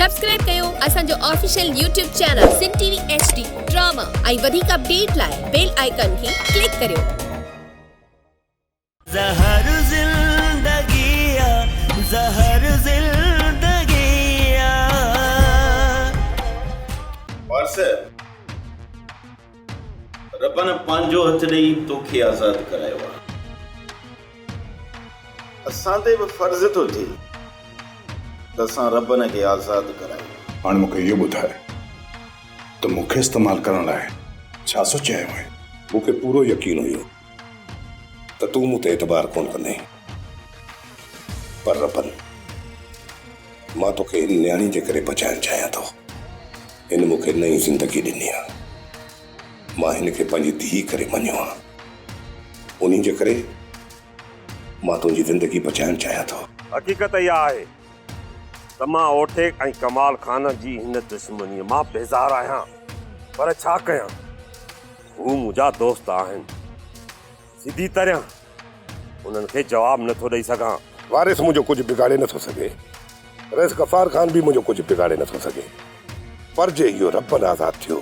Subscribe ڪيو اسان جو official YouTube channel Sindh T V H D drama ۽ وڌيڪ اپڊيٽ لاء بيل آئيڪان کي ڪلڪ ڪريو. زهر زندگي آ زهر زندگي آ. پارسل. ربّ نه پنهنجو هٿ ڏئي توکي آزاد ڪرايو آهي. اسان تي به فرض ٿو ٿئي ته اسان ربّ نه کي آزاد ڪرايون. هاڻي مون کي اهو ٻڌاء ته مون کي استعمال ڪرڻ لاء ڇا سوچيو آيو آهين؟ مون کي پورو يقين هيو ته تون مون تي اعتبار ڪونه ڪندين پر ربّ مان توکي هن نياڻي جي ڪري بچائڻ چاهيان ٿو. هن مون کي نئين زندگي ڏني آهي. مان هن کي پنهنجي ڌيء ڪري مڃيو آهي. انهي جي ڪري مان تنهنجي زندگي بچائڻ چاهيان ٿو. حقيقت اها آهي ته مان اوٽيڪ ۽ ڪمال خان جي هن دشمنيء مان بيزار آهيان. پر ڇا ڪيان؟ هو منهنجا دوست آهن. سڌي طرح انهن کي جواب نه ٿو ڏئي سگهان. وارث منهنجو ڪجهه بگاڙي نه ٿو سگهي. رئيس غفار خان به منهنجو ڪجهه بگاڙي نه ٿو سگهي. پر جي اهو ربن آزاد ٿيو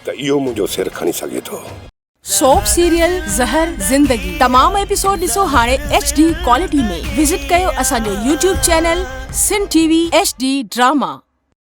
ته اهو منهنجو سر کڻي سگهي ٿو. سوپ سيريل زهر زندگي تمام ايپيسوڊ ڏسو هاڻي ايڇ ڊي ڪوالٽي ۾ وزٽ ڪيو اسان جو YouTube channel Sindh T V H D drama.